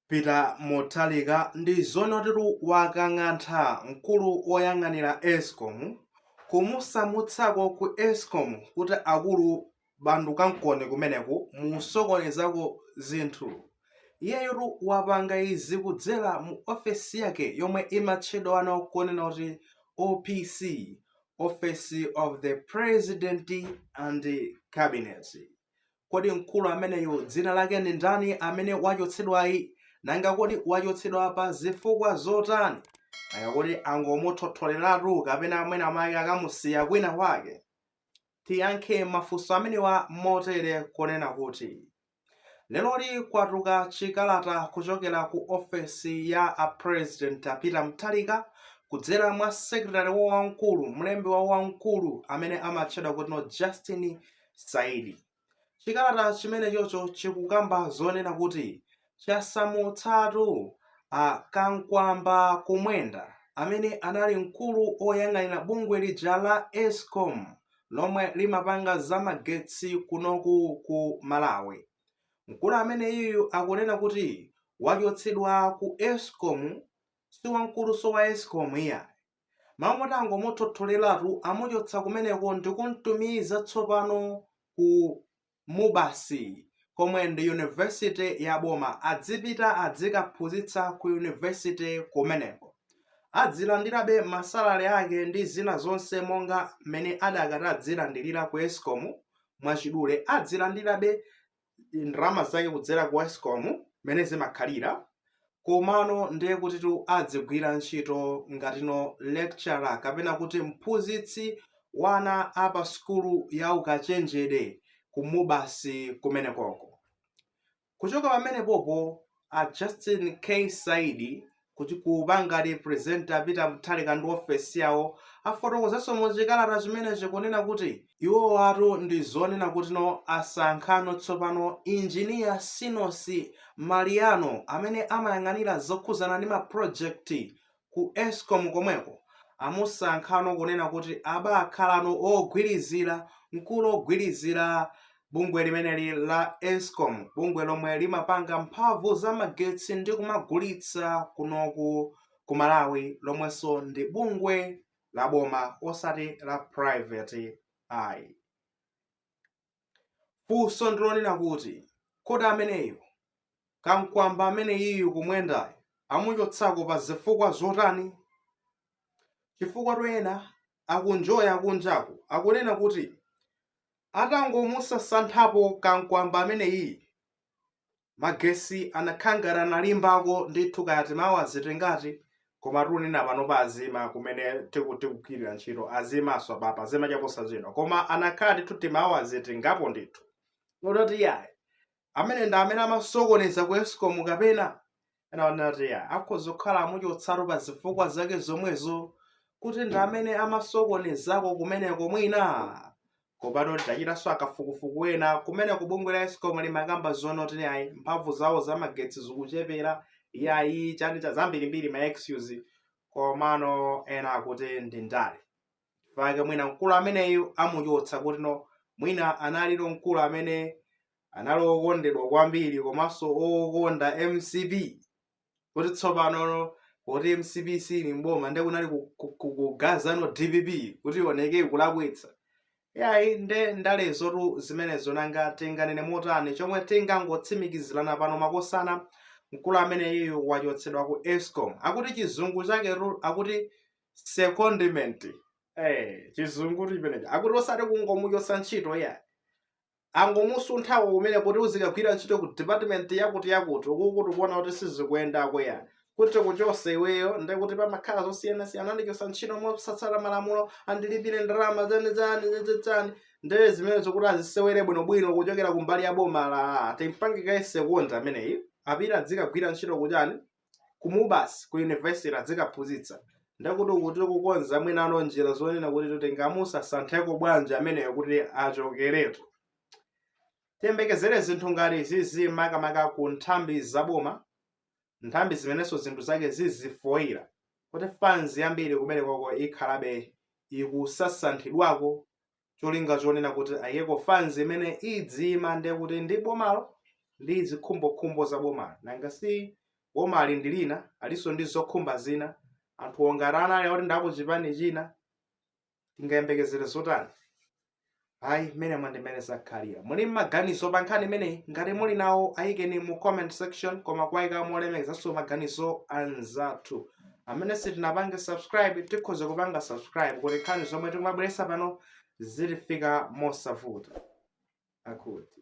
Peter Mutharika ndi zoonatitu wakang'antha mkulu woyang'anira escom kumusamutsako ku escom kuti akulu bandukankoniko kumeneku musokonezako zinthu. Iyeyotu wapanga izi kudzera mu ofesi yake yomwe imatchedwano kunena kuti OPC, Office of the President and Cabinet. Kodi mkulu ameneyu dzina lake ndi ndani amene wachotsedwayi? Nanga kodi wachotsedwa pa zifukwa zotani? Nanga kodi angomuthotholeratu kapena mwina mwake akamusiya kwina kwake? Tiyankhe mafunso amenewa motere kunena kuti, leroli kwatuluka chikalata kuchokera ku ofesi ya a President a Peter Mutharika kudzera mwa secretary wawo wamkulu, mlembi wawo wamkulu amene amatchedwa kutino Justin Saidi. Chikalata chimenechocho chikukamba zonena kuti chasamutsatu a Kankwamba Kumwenda amene anali mkulu oyang'anira bungwe lija la escom lomwe limapanga za magetsi kunoku ku Malawi. Mkulu ameneyiyu akunena kuti wachotsedwa ku escom si wamkulunso wa escom iyayi. mmalo moti angomuthotholeratu amuchotsa kumeneko ndikumtumiza tsopano ku MUBAS komwe ndi university ya boma adzipita adzikaphunzitsa ku university kumeneko adzilandirabe masalary ake ndi zina zonse monga mmene adakati adzilandirira ku escom mwachidule adzilandirabe ndalama zake kudzera ku escom mmene zimakhalira komano ndiye kutitu adzigwira ntchito ngatino lecturer kapena kuti mphunzitsi wa ana a pa sukulu ya ukachenjede ku MUBAS kumenekoko kuchoka pamenepopo a justin k saidi kuti kupanga represent a Peter Mutharika ndi ofesi yawo afotokozanso mu chikalata chimenechi kunena kuti iwowatu ndi zoonena kutino asankhano tsopano Engineer Sinosi Maliano amene amayang'anira zokhuzana ndi ma project ku escom komweko amusankhano kunena kuti abakhalano ogwirizira mkulu ogwirizira bungwe limeneli la escom bungwe lomwe limapanga mphamvu za magetsi ndi kumagulitsa kunoku ku malawi lomwenso ndi bungwe la boma osati la private ayi funso ndilonena kuti kodi ameneyu kamkwamba ameneyiyu kumwendayo amuchotsako pa zifukwa zotani chifukwa tu ena akunjoya akunjaku akunena kuti Atangomusasanthapo kankwamba ameneyi, magesi anakhala ngati analimbako ndithu kaya timawu azitengati koma tikunena panopa azima kumene tiku tikugwirira ntchito azimanso apapa zima chaposachedwa koma anakhala ndithu timawu azitengapo ndithu ndithu yayi amene ndi amene amasokoneza ku escom kapena ena anati yayi akhoza kukhala amuchotsatu pa zifukwa zake zomwezo kuti ndi amene amasokonezako kumeneko mwina pakufunika tichitenso akafukufuku ena kumene ku bungwe la escom limakamba zonena kuti ayi mphamvu zawo za magetsi zikuchepera iyayi chani cha zambirimbiri ma excuse komano ena akuti ndi ndale chifukwa mwina mkulu ameneyu amuchotsa kutino mwina analino mkulu amene anali okondedwa kwambiri komanso okonda mcp kuti tsopano kuti mcp sili mboma nde kunali kugazano dpp kuti ioneke kulakwitsa yayi nde ndalezotu zimenezo nanga tinganene motani chomwe tingangotsimikizirana pano makosana mkulu ameneyu wachotsedwa ku escom akuti chizungu chake akuti secondment eh chizungu chimenecho akuti osati kungomuchotsa ntchito yayi angomusuntha kumene kuti uzikagwira ntchito ku department yakuti yakuti ukuku tikuona kuti sizikuyendako yayi kuti kuchotsa iweyo ndi kuti pamakhala zosiyanasiyana andichotsa ntchito mosatsata malamulo andilipire ndalama zani zani zani zani ndee zimenezo kuti azisewere bwinobwino kuchokera kumbali ya boma ati timpange kaye second ameneyi apita adzikagwira ntchito kuchani ku MUBAS ku university adzikaphunzitsa ndekuti akuti kukonza mwinano njira zonena kuti tingamusasantheko bwanji ameneyo kuti achokeretu tiyembekezere zinthu ngati zizi makamaka ku nthambi zaboma nthambi zimenenso zinthu zake zizifoyira kuti fans yambiri kumenekoko ikhalabe ikusasanthidwako cholinga chonena kuti ayikeko fans imene idzimva ndiye kuti ndi bomalo ndi zikhumbokhumbo za bomalo nanga si bomali ndi lina alinso ndi zokhumba zina anthu onga anali oti ndi a ku chipani china tingayembekezere zotani ayi mmene mwa ndi mmene zakhalira muli maganizo pa nkhani imeneyi ngati muli nawo ayikeni mu comment section koma kuwayika molemekezanso maganizo anzathu amene sitinapange subscribe tikhoza kupanga subscribe kuti nkhani zomwe tikumabweretsa pano zizitifika mosavuta akuti